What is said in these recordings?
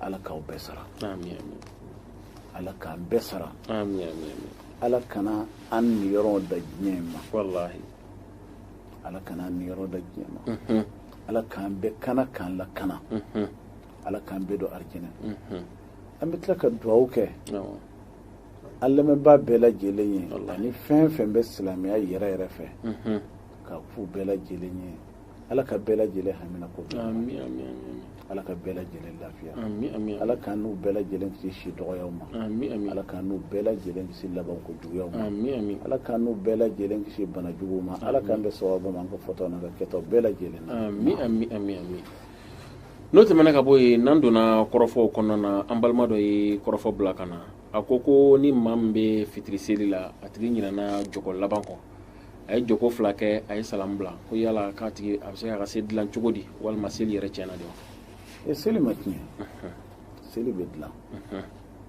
ala k'aw bɛɛ sara ala k'an bɛɛ sara ala kana an niyɔrɔ dan diɲɛ ma ala kana an niyɔrɔ dan diɲɛ ma mhm. ala k'an bɛɛ kana k'an lakana mhm. ala k'an bɛɛ don arijinɛ mhm. an bɛ tila ka dugawu kɛ an lamɛnba bɛɛ lajɛlen ye ani fɛn fɛn bɛ silamɛya yɛrɛ yɛrɛ fɛ k'a f'u bɛɛ lajɛlen ye ala ka bɛɛ lajɛlen hamina ko ala ka bɛɛ lajɛlen lafiya ala k'an n'u bɛɛ lajɛlen kisi si dɔgɔyaw ma ala k'an n'u bɛɛ lajɛlen kisi labanko juguyaw ma ala k'an n'u bɛɛ lajɛlen kisi bana juguw ma ala k'an bɛn sawaba ma an ka fɔtaw n'an ka kɛtaw bɛɛ lajɛlen na n'o tɛmɛna ka bɔ yen n'an donna kɔrɔfɔw kɔnɔna na an balima dɔ ye kɔrɔfɔ bila ka na a ko ko ni maa min bɛ fitiri seli la a tigi ɲinɛna jɔko laban kɔ a ye jɔko fila kɛ a ye salamu bila ko yala k'a tigi a bɛ se ka seli dilan cogo di walima seli yɛrɛ tiɲɛna de wa e seli ma tiɲɛ seli bɛ dilan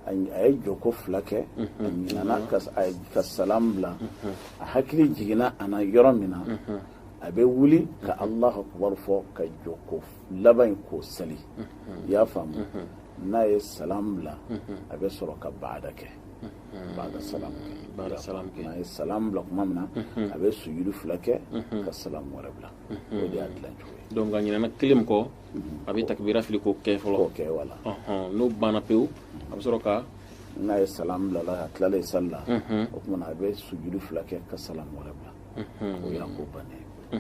a ye jɔko fila kɛ a ɲinana ka salamu bila a hakili jiginna a na yɔrɔ min na a bɛ wuli ka alahu akubaru fɔ ka jɔko laban in k'o seli i y'a faamu n'a ye salamu bila a bɛ sɔrɔ ka baada kɛ baada salam kɛ n'a ye salam bila kuma min na a bɛ sujudu fila kɛ ka salam wɛrɛ bila o de y'a dilan cogo ye donc a ɲinɛna kelen min kɔ a bɛ takibira fili k'o kɛ fɔlɔ k'o kɛ wala n'o banna pewu a bɛ sɔrɔ ka n'a ye salam bilala a tilala ye sali la o tuma na a bɛ sujudu fila kɛ ka salam wɛrɛ bila o y'a ko bannen ye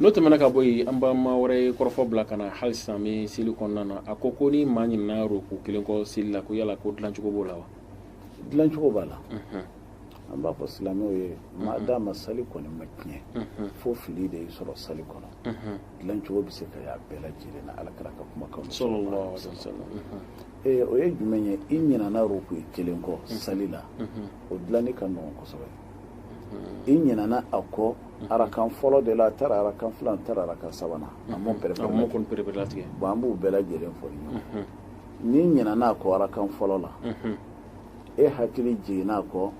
n'o tɛmɛna ka bɔ yen an balima wɛrɛ ye kɔrɔfɔ bila ka na hali sisan an bɛ seli kɔnɔna na a ko ko ni maa ɲinana ruku kelen kɔ seli la ko yala ko dilancogo b'o la wa dilancogo b'a la an b'a fɔ silamɛw ye maadama sali kɔni ma tiɲɛ fo fili de y'i sɔrɔ sali kɔnɔ dilancogo bɛ se ka y'a bɛɛ lajɛlen na ala kira ka kumakan salalahu alayhi wasalam o ye jumɛn ye i ɲinana ruku kelen kɔ sali la o dilanni ka nɔgɔn kosɛbɛ i ɲinana a kɔ arakan fɔlɔ de la a taara arakan filan a taara arakan sabanan a m'o pɛrɛpɛrɛlatigɛ bon an b'u bɛɛ lajɛlen fɔ ɲɔgɔn n'i ɲinɛna a kɔ arakan fɔlɔ la e hakili jiginna a kɔ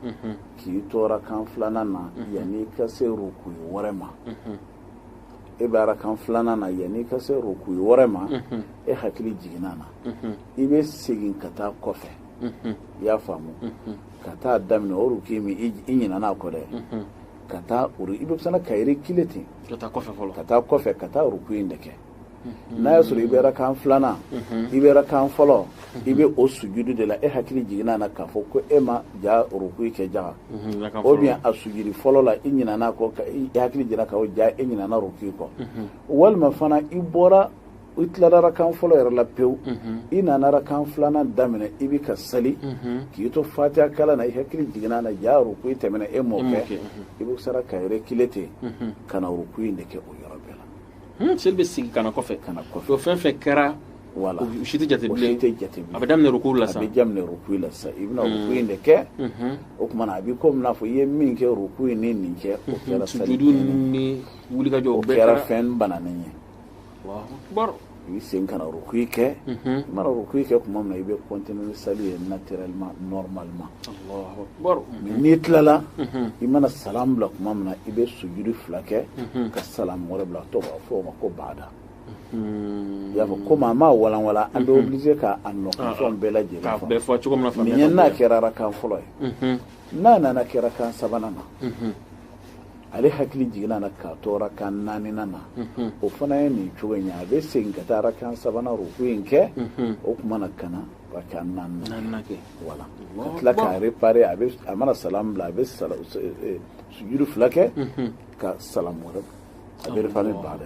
k'i to arakan filanan na yanni i ka se rukuyi wɛrɛ ma e bɛ arakan filanan na yanni i ka se rukuyi wɛrɛ ma e hakili jiginna na i bɛ segin ka taa kɔfɛ i y'a faamu ka taa daminɛ o rukuyi min i ɲinɛna a kɔ dɛ ka taa i bɛ fana ka yɛrɛ kile ten ka taa kɔfɛ ka taa ruku in de kɛ mhm. n'a y'a sɔrɔ i bɛ rakan filanan mhm. i bɛ rakan fɔlɔ mhm. i bɛ o sujudu de la e hakili jiginna na k'a fɔ ko e ma ja ruku kɛ jaga ou bien a sujudi fɔlɔ la i ɲinana kɔ i hakili jiginna ko ja e ɲinana ruku kɔ walima fana i bɔra i tilara rakan fɔlɔ yɛrɛ la pewu i nana rakan filanan daminɛ i bɛ ka seli k'i to fatiya kalan na i hakili jiginna na jaa ruku tɛmɛna e m'o kɛ i bɛ sɔrɔ ka reculer ten ka na ruku in de kɛ o yɔrɔ bɛɛ lajɛlen bɛ segin ka na kɔfɛ ka na kɔfɛ o fɛn fɛn kɛra wala o si tɛ jate bilen tɛ jate bilen a bɛ daminɛ ruku la sa a bɛ daminɛ ruku la sa i bɛna ruku in de kɛ o tuma na a b'i komi n'a fɔ i ye min kɛ ruku in ni nin kɛ o kɛra sujudu ni wulikajɔ o kɛra fɛn bananen ye Allahu akbar i bɛ segin ka na rukui kɛ i mana rukui kɛ tuma min na i bɛ continuer ni sali ye naturellement normalement Allahu akbar mais n'i tilala i mana salam bila tuma min na i bɛ sujudu fila kɛ ka salam wɛrɛ bila dɔ b'a fɔ o ma ko baada i y'a fɔ komi a m'a walanwalan an bɛ obligé ka a nɔkanfɛnw bɛɛ lajɛlen k'a fɔ bɛɛ fɔ cogo min na mais faamuyali ɲɛ n'a kɔnɔ. kɛra arakan fɔlɔ ye n'a nana kɛ arakan sabanan na ale hakili jiginna na k'a to arakan naaninan na o fana ye nin cogo in ye a bɛ segin ka taa arakan sabanan ruku in kɛ o tuma na ka na arakan naaninan kɛ wala ka tila k'a réparer a bɛ a mana salam bila a bɛ sujudu fila kɛ ka salam wɛrɛ a bɛ réparer baada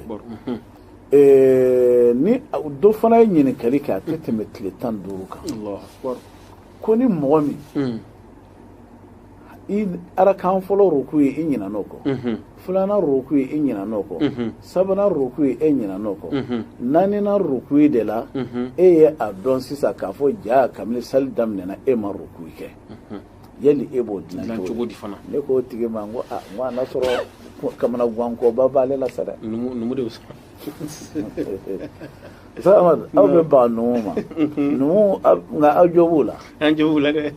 ye ni dɔ fana ye ɲininkali kɛ a tɛ tɛmɛ tile tan duuru kan ko ni mɔgɔ min i arakan fɔlɔ rukui i ɲinan'o kɔ mm-hmm. filanan rukui i ɲinan'o kɔ mm-hmm. sabanan rukui e ɲinan'o kɔ mm-hmm. naaninan rukui de la e ye a dɔn sisan k'a fɔ jaa kabini sali daminɛna e ma rukui kɛ yali e b'o dilan cogo di fana ne k'o tigi ma n ko a n ko a n'a sɔrɔ kamanagwankoba b'ale la sa dɛ numu de bɛ sɔrɔ Samadu aw bɛ ban numu ma numu nka aw jo b'u la an jo b'u la dɛ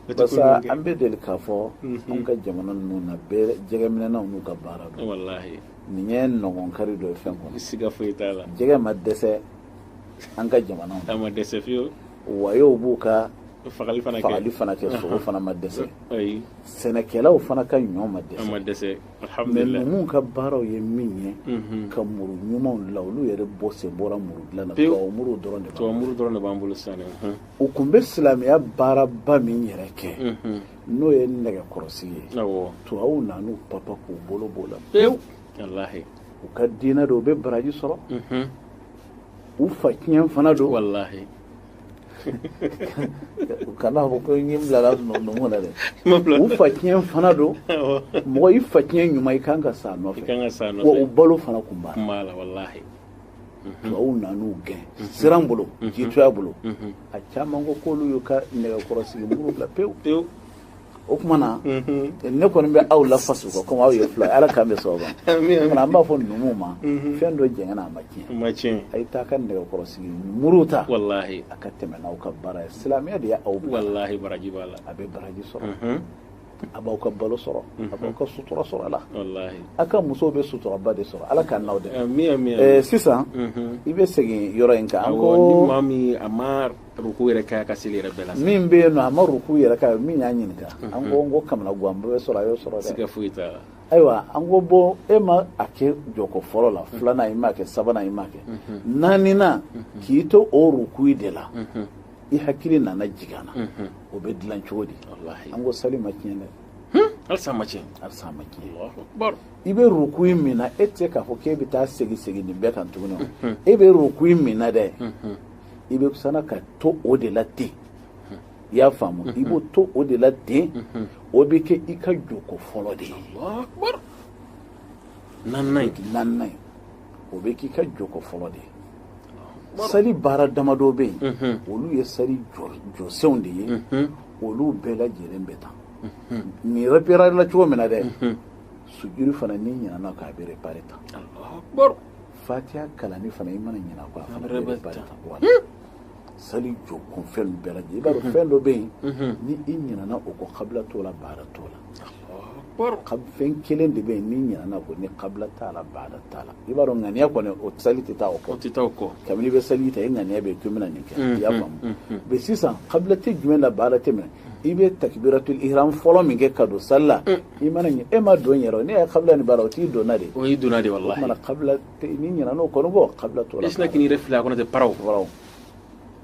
an bɛ deli k'a fɔ mhm. an ka jamana ninnu na bɛɛ jɛgɛminɛnaw n'u ka baara don nin ye nɔgɔn kari dɔ ye fɛn kɔnɔ siga foyi t'a la jɛgɛ ma dɛsɛ an ka jamana a ma dɛsɛ fiyewu wayew b'u ka fagali fana kɛ fagali fana kɛ sogo fana ma dɛsɛ sɛnɛkɛlaw fana ka ɲɔ ma dɛsɛ ma dɛsɛ mais numuw ka baaraw ye min ye mhm. ka muru ɲumanw la olu yɛrɛ bɛɛ sen bɔra muru dilan na tubabu muru dɔrɔn de b'an bolo tubabu muru dɔrɔn de b'an bolo sisan u kun bɛ silamɛya baaraba min yɛrɛ kɛ n'o ye nɛgɛkɔrɔsigi ye tubabuw nan'u papa k'u bolo b'o la pewu u ka diinɛ don u bɛ baraji sɔrɔ u fa tiɲɛ fana don u kan'a fɔ ko n bilala numu na dɛ u fa tiɲɛ fana don mɔgɔ i fa tiɲɛ ɲuman i kan ka s'a nɔfɛ wa u balo fana kun b'a la Mhm. tubabuw nan'u gɛn mhm. siran bolo mhm. jitɔya bolo a caman ko k'olu y'u ka nɛgɛkɔrɔsigi muru bila pewu pewu o tuma na ne kɔni bɛ aw lafasa kɔ komi aw ye fila ala k'an bɛɛ sɔrɔ ma an b'a fɔ numuw ma fɛn dɔ jɛngɛna a ma tiɲɛ a ye taa ka nɛgɛkɔrɔsigi muru ta a ka tɛmɛ n'aw ka baara ye silamɛya de y'aw bila a bɛ baraji sɔrɔ a b'aw ka balo sɔrɔ a b'aw ka sutura sɔrɔ a la a ka musow bɛ suturaba de sɔrɔ ala k'an n'aw dɛmɛ sisan i bɛ segin yɔrɔ in kan ko maa min a ma ruku yɛrɛ k'a ka seli yɛrɛ bɛɛ la min bɛ yen nɔ a ma ruku yɛrɛ kɛ min y'a ɲininka an ko n ko kamanaguwan bɛɛ bɛ sɔrɔ a y'o sɔrɔ dɛ siga foyi t'a la ayiwa an ko bon e ma a kɛ jɔko fɔlɔ la filanan i m'a kɛ sabanan i m'a kɛ naaninan k'i to o ruku de la i hakili nana jigin a na o bɛ dilan cogo di an ko sali ma tiɲɛ dɛ hmm? halisa ma tiɲɛ halisa ma tiɲɛ i bɛ ruku in min na e tɛ se k'a fɔ k'e bɛ taa segin segin nin bɛɛ kan tuguni e bɛ ruku in min na dɛ i bɛ sana ka to o de la ten i y'a faamu i b'o to o de la ten o bɛ kɛ i ka jɔko fɔlɔ de ye naaninan ye naaninan ye o bɛ k'i ka jɔko fɔlɔ de ye seli baara damadɔ bɛ yen olu ye seli jɔsenw de ye olu bɛɛ lajɛlen bɛ tan nin reparela cogo min na dɛ sujudu fana n'i ɲinana kɔ a bɛ repare tan fatiya kalanni fana i mana ɲinɛ a kɔ a fana bɛ repare tan sali jɔ kun fɛn bɛɛ lajɛlen i b'a dɔn fɛn dɔ bɛ yen ni i ɲinana o kɔ kabila t'o la baada t'o la fɛn kelen de bɛ yen n'i ɲinana kɔ ni kabila t'a la baada t'a la i b'a dɔn ŋaniya kɔni o sali tɛ taa o kɔ tɛ taa o kɔ kabini i bɛ sali ta i ŋaniya bɛ yen k'i bɛna nin kɛ i y'a faamu mɛ sisan kabila tɛ jumɛn la baada tɛ min na i bɛ takibiratul ihram fɔlɔ min kɛ ka don sali la i mana ɲinɛ e ma don yɛrɛ ne y'a kabila ni baada o t'i donna de o y'i donna de walahi o tuma na kabila n'i ɲinan'o kɔ nɔ bon kabila t'o la i sinna k'i yɛrɛ fili a kɔnɔ ten paw kɔrɔ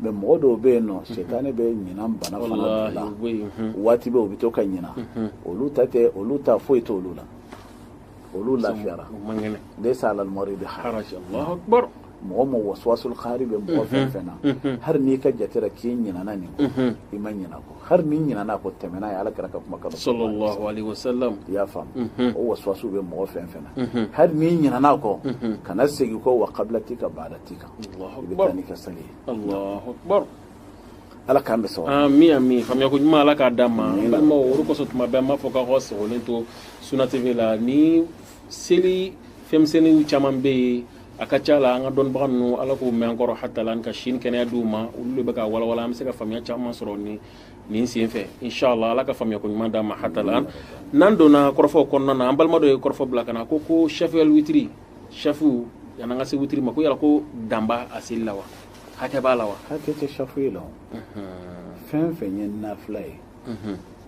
mɛ mɔgɔ dɔw bɛ yen nɔ setannɛ bɛ ɲinan bana fana d'u la waati bɛɛ u bɛ to ka ɲina olu ta tɛ olu ta foyi tɛ olu la olu lafiyara laysa alal maridi haraj mɔgɔ mɔgɔ waswasul kahari bɛ mɔgɔ fɛn fɛn na hali n'i ka jate la k'i ɲinana nin kɔ i ma ɲina kɔ hali n'i ɲinɛna a kɔ tɛmɛ n'a ye ala kira ka kuma kan sallallahu alaihi wasallam i y'a faamu mhm. o waswasu bɛ mɔgɔ fɛn fɛn na mhm. hali n'i ɲinɛna a kɔ mhm. kana segin kɔ wa kabila t'i kan baada t'i kan i bɛ taa n'i ka seli ye allahu akbar ala k'an bɛɛ sɔrɔ ami ami faamuyako ɲuman ala k'a d'an ma n balimaw o de kosɔn tuma bɛɛ an b'a fɔ k'aw ka sɔgɔlen to suna tv la ni seli fɛnmisɛnninw caman bɛ yen a ka ca la an ka dɔnnibaga ninnu ala k'u mɛn an kɔrɔ hatalan ka si ni kɛnɛya d'u ma olu de bɛ ka walawala an bɛ se ka faamuya caman sɔrɔ nin sen fɛ inshallah ala ka faamuya ko ɲuman d'an ma hatalan n'an donna kɔrɔfɔw kɔnɔna na an balima dɔ ye kɔrɔfɔ bila ka na ko ko shafu el witiri shafu yan'an ka se witiri ma ko yala ko dan b'a seli la wa hakɛ b'a la wa hakɛ tɛ shafuyi la fɛn fɛn ye nafila ye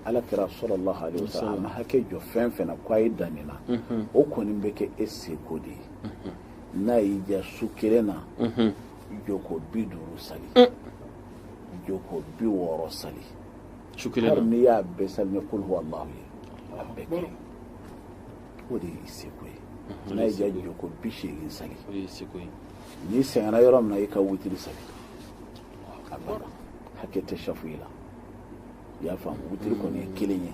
ala kira sallallahu alaihi wasallam ma hakɛ jɔ fɛn fɛn na ko a ye dan nin na o kɔni bɛ kɛ e seko de ye n'a y'i diya su kelen na jɔko bi duuru sali mm. jɔko bi wɔɔrɔ sali su kelen na hali n'i y'a bɛɛ sali ni kul huwa allahu ye a bɛ kɛ o de y'i seko ye n'a y'i diya jɔko bi seegin sali n'i sɛgɛnna yɔrɔ min na i ka witiri sali a banna hakɛ tɛ shafuyi la i y'a faamu witiri kɔni ye kelen ye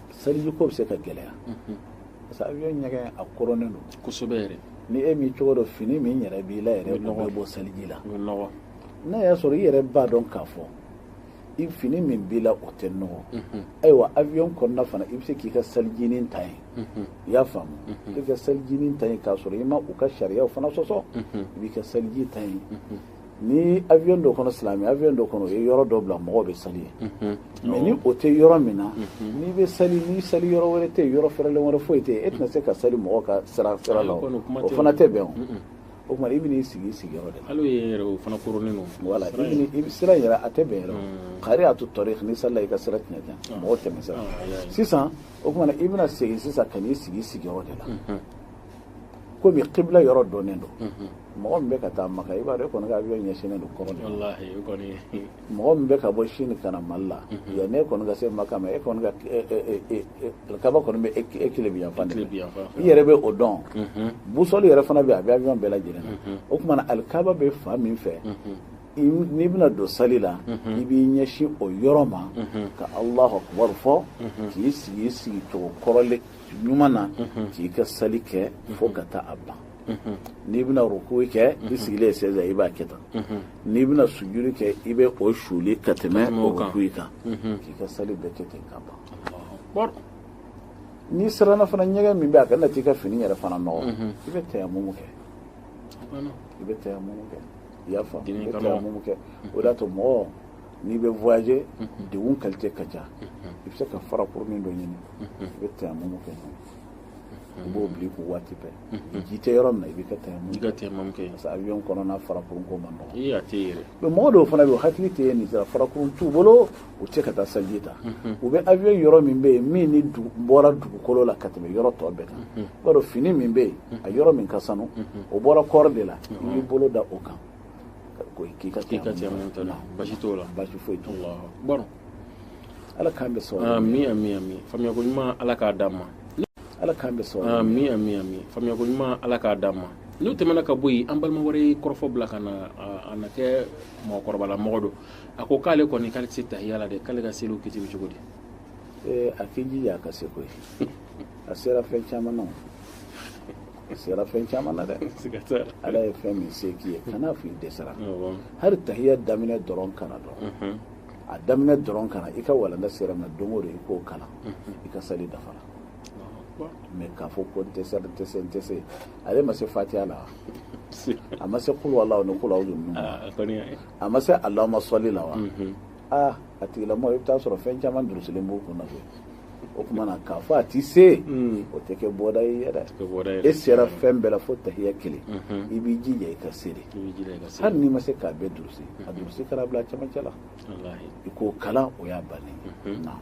seliji ko bɛ se ka gɛlɛya parce que avion ɲɛgɛn a koronnen don kosɛbɛ yɛrɛ ni e m'i cogo dɔn fini min yɛrɛ b'i la yɛrɛ o bɛ bɔ seliji la n'a y'a sɔrɔ i yɛrɛ b'a dɔn k'a fɔ i fini min b'i la o tɛ nɔgɔ ayiwa avion kɔnɔna fana i bɛ se k'i ka selijinin ta yen i y'a faamu i ka selijinin ta yen k'a sɔrɔ i ma u ka sariyaw fana sɔsɔ i b'i ka seliji ta yen ni avion dɔ kɔnɔ silamɛ avion dɔ kɔnɔ o ye yɔrɔ dɔ bila mɔgɔw bɛ sali yen mais ni o tɛ yɔrɔ min na n'i bɛ sali ni sali yɔrɔ wɛrɛ tɛ yen yɔrɔ fɛrɛlen wɛrɛ foyi tɛ yen e tɛna se ka sali mɔgɔ ka sira sira la o o fana tɛ bɛn o o tuma i bɛn'i sigi i sigiyɔrɔ de la hali yen yɛrɛ o fana koronnen don voilà i bɛ n'i- i bɛ sira yɛrɛ a tɛ bɛn yɛrɛ o qari'atu tariq n'i salila i ka sira tiɲɛ tiɲɛ mɔgɔw tɛmɛ sira sisan o tuma i bɛna segin sisan ka n'i sigi i sigiyɔrɔ de la komi qibla yɔrɔ dɔnnen don mɔgɔ min bɛ ka taa maka i b'a dɔn e kɔni ka avion ɲɛsinnen don kɔrɔn mɔgɔ min bɛ ka bɔ chine ka na mali la yanni e kɔni ka se maka ma e kɔni kaba kɔni bɛ e kilebi yanfan i yɛrɛ bɛ o dɔn busɔli yɛrɛ fana bɛ a bɛ avion bɛɛ lajɛlen na o tuma na alikaba bɛ fan min fɛ n'i bɛna don sali la i b'i ɲɛsin o yɔrɔ ma ka allahu akbar fɔ k'i sigi i sigi cogo kɔrɔlen ɲuman na k'i ka sali kɛ fo ka taa a ban n'i bɛna rukuyi kɛ i sigilen sɛzi la i b'a kɛ tan n'i bɛna sujudi kɛ i bɛ o suli ka tɛmɛ o rukuyi kan k'i ka sali bɛɛ kɛ ten ka ban n'i siranna fana ɲɛgɛn min bɛ a kana t'i ka fini yɛrɛ fana nɔgɔ i bɛ tayamumu kɛ i bɛ tayamumu kɛ i y'a faamu i bɛ tayamumu kɛ o de y'a to mɔgɔ n'i bɛ voyager degun qualité ka ca i bɛ se ka farakurunin dɔ ɲini i bɛ tayamumu kɛ i b'o bila i kun waati bɛɛ ji tɛ yɔrɔ min na i b'i ka tayamumu i ka tayamumu kɛ parce que avion kɔnɔna farakurun ko man nɔgɔn i a tɛ yɛrɛ mais mɔgɔ dɔw fana bɛ yen hakili tɛ yen nin sira farakurun t'u bolo u tɛ ka taa saliji ta u bɛ avion yɔrɔ min bɛ yen min ni bɔra dugukolo la ka tɛmɛ yɔrɔ tɔ bɛɛ kan i b'a dɔn fini min bɛ yen a yɔrɔ min ka sanu o bɔra kɔɔri de la i b'i bolo da o kan ko k'i ka k'i ka tayamumu ta basi t'o la basi foyi t'o la bɔrɔ ala k'an bɛɛ sɔn ami ami ami faamuyako ɲuman ala k'a d'an ma ala k'an bɛɛ sɔn ami ami ami faamuyako ɲuman ala k'a d'an ma n'o tɛmɛna ka bɔ yen an balima wɛrɛ ye kɔrɔfɔ bila ka na a na kɛ mɔgɔkɔrɔbala mɔgɔ don a ko k'ale kɔni k'ale tɛ se tahiya la dɛ k'ale ka seliw kiti bɛ cogo di a k'i jija a ka se koyi a sera fɛn caman na a sera fɛn caman na dɛ ala ye fɛn min se k'i ye kana fɔ i dɛsɛra hali tahiya daminɛ dɔrɔn kana dɔn a daminɛ dɔrɔn ka na i ka walanda sera ma don o don i k'o kalan i ka sali dafara mais k'a fɔ ko n tɛ se n tɛ se n tɛ se ale ma se fatiha la a ma se kul huwallahu ni kul a'udhu ninnu a ma se allahumma salli la wa aa a tigilamɔgɔ i bɛ taa sɔrɔ fɛn caman durusilen b'o kun na koyi o tuma na k'a fɔ a tɛ se hmm. o tɛ kɛ bɔda ye yɛrɛ e sera fɛn bɛɛ la fo tahiya kelen i b'i jija i ka se de hali n'i ma se k'a bɛɛ durusi a durusi ka n'a bila cɛmancɛ la i k'o kalan o y'a bannen na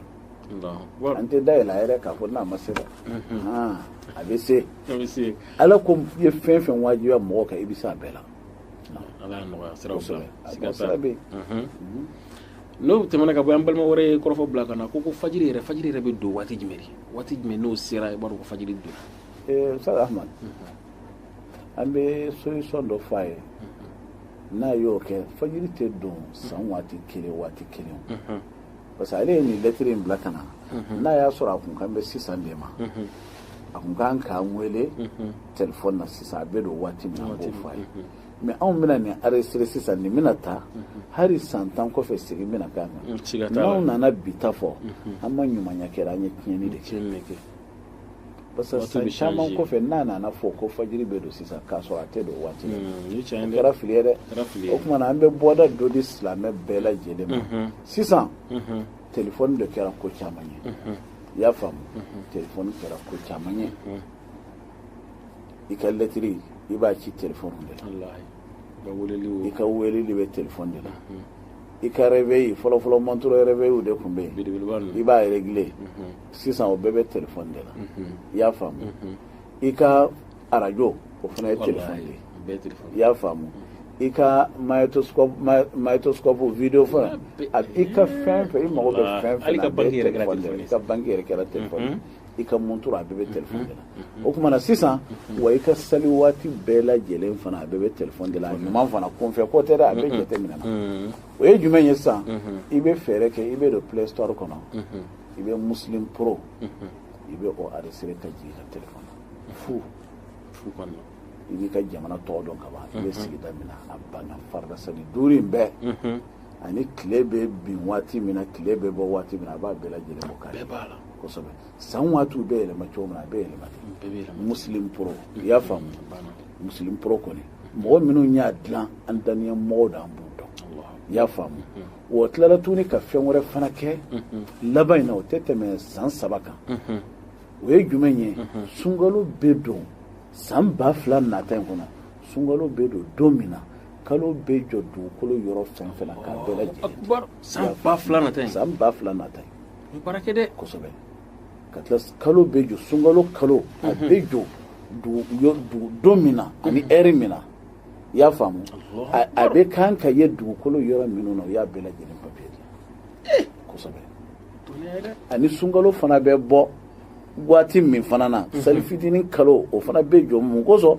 an tɛ da yɛlɛ a yɛrɛ k'a fɔ n'a ma se dɛ a bɛ se ala ko i ye fɛn fɛn wajibiya mɔgɔ kan i bɛ se a bɛɛ la ala y'a nɔgɔya siraw sira bɛ yen n'o tɛmɛna ka bɔ an balima wɛrɛ ye kɔrɔfɔ bila ka na ko ko fajiri yɛrɛ fajiri yɛrɛ bɛ don waati jumɛn waati jumɛn n'o sera i b'a dɔn ko fajiri don eh, sa ahmad an bɛ solution dɔ fɔ a ye n'a y'o kɛ fajiri tɛ don san waati kelen waati kelen parce que ale ye nin lɛtiri in bila ka na n'a y'a sɔrɔ a kun kan bɛ sisan de ma a kun kan k'an wele telefɔni na sisan a bɛ don waati min na an b'o fɔ a ye mais anw bɛna nin enregistrer sisan nin bɛna taa hali san tan kɔfɛ segin bɛna k'a kan n'anw nana bi ta fɔ an ma ɲumanya kɛra an ye tiɲɛni de kɛ parce que san caman kɔfɛ n'a nana fɔ ko fajiri bɛ don sisan k'a sɔrɔ a tɛ don o waati la o kɛra fili ye dɛ o tuma na an bɛ bɔda dɔ di silamɛ bɛɛ lajɛlen ma sisan telefɔni de kɛra ko caman ye i y'a faamu telefɔni kɛra ko caman ye i ka lɛtiri i b'a ci telefɔni de la i ka weeleli bɛ telefɔni de la hmm. i ka rɛveyi fɔlɔfɔlɔ mɔntoro rɛveyiw de tun bɛ yen i b'a regile hmm. sisan o bɛɛ bɛ telefɔni de la hmm. i y'a faamu i ka arajo o fana ye telefɔni de ye i y'a faamu i ka magnétoscope video fana i ka fɛn fɛn i mago bɛ fɛn fɛn na i ka banki yɛrɛ kɛra telefɔni i ka montre a bɛɛ bɛ telefɔni de la o tuma na sisan wa i ka sali waati bɛɛ lajɛlen fana a bɛɛ bɛ telefɔni de la ɲuman fana kunfɛ ko tɛ dɛ a bɛ jateminɛ na o ye jumɛn ye sisan i bɛ fɛɛrɛ kɛ i bɛ don play store kɔnɔ i bɛ muslim pro i bɛ o aresere ka jigin i ka telefɔni fu kɔnɔ i b'i ka jamana tɔgɔ don ka ban i bɛ sigida min na a banna farida sali duuru in bɛɛ ani tile bɛ bin waati min na tile bɛ bɔ waati min na a b'a bɛɛ lajɛlen bɔ kari b'a la kosɛbɛ san waatiw bɛ yɛlɛma cogo min na a bɛ yɛlɛma ten muslim pro i y'a faamu muslim pro kɔni mɔgɔ minnu y'a dilan an daniya mɔgɔw don an b'u dɔn i y'a faamu wa tilala tuguni ka fɛn wɛrɛ fana kɛ laban in na o tɛ tɛmɛ san saba kan o ye jumɛn ye sunkalo bɛ don san ba fila nata in kɔnɔ sunkalo bɛ don don min na kalo bɛ jɔ dugukolo yɔrɔ fɛn fɛn na k'a bɛɛ san ba fila nata san ba fila nata kosɛbɛ ka tila kalo bɛ jɔ sunkalo kalo a mhm. bɛ jɔ don min na ani ɛri min na i y'a faamu a bɛ kan ka ye dugukolo yɔrɔ minnu na u y'a bɛɛ lajɛlen papiye di kosɛbɛ ani sunkalo fana bɛ bɔ waati min fana na mhm. sali fitinin kalo o fana bɛ jɔ mun kosɔn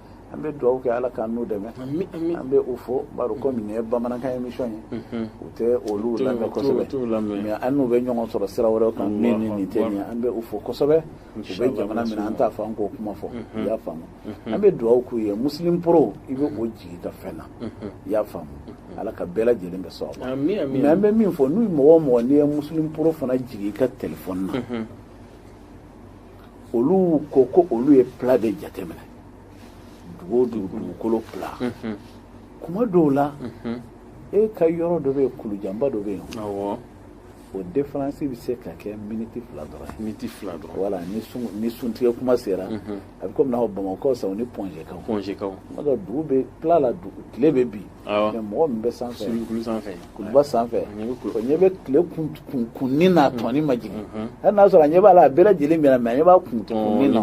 an bɛ dugawu kɛ ala k'an n'u dɛmɛ an bɛ u fo bari komi nin ye bamanankan émission ye u tɛ olu lamɛn kosɛbɛ mais an n'u bɛ ɲɔgɔn sɔrɔ sira wɛrɛw kan min ni nin tɛ nin ye an bɛ u fo kosɛbɛ u bɛ jamana min na an t'a fɔ an k'o kuma fɔ i y'a faamu an bɛ dugawu k'u ye muslim pro i bɛ o jigi ka fɛn na i y'a faamu ala k'u bɛɛ lajɛlen bɛɛ sara mais an bɛ min fɔ n'u mɔgɔ o mɔgɔ n'i ye muslim pro fana jigi i ka telefɔni na olu ko ko olu ye pla de jateminɛ dugu dugu dugukolo pla mhm. kuma dɔw la mhm. e ka yɔrɔ dɔ bɛ yen kulujanba dɔ bɛ yen o defaransi bɛ se ka kɛ miniti fila dɔrɔn miniti fila dɔrɔn wala ni sun ni suntigɛ kuma sera mhm. a bɛ komi n'a fɔ bamakɔ sa ni pɔnzekaw pɔnzekaw kuma dɔ dugu bɛ pla la dugu tile bɛ bin mais mɔgɔ min bɛ sanfɛ kulu sanfɛ kuluba sanfɛ o ɲɛ bɛ tile kunkunni na tɔni ma jigin hali n'a sɔrɔ a ɲɛ b'a la a bɛɛ lajɛlen binna mais a ɲɛ b'a kunkunni na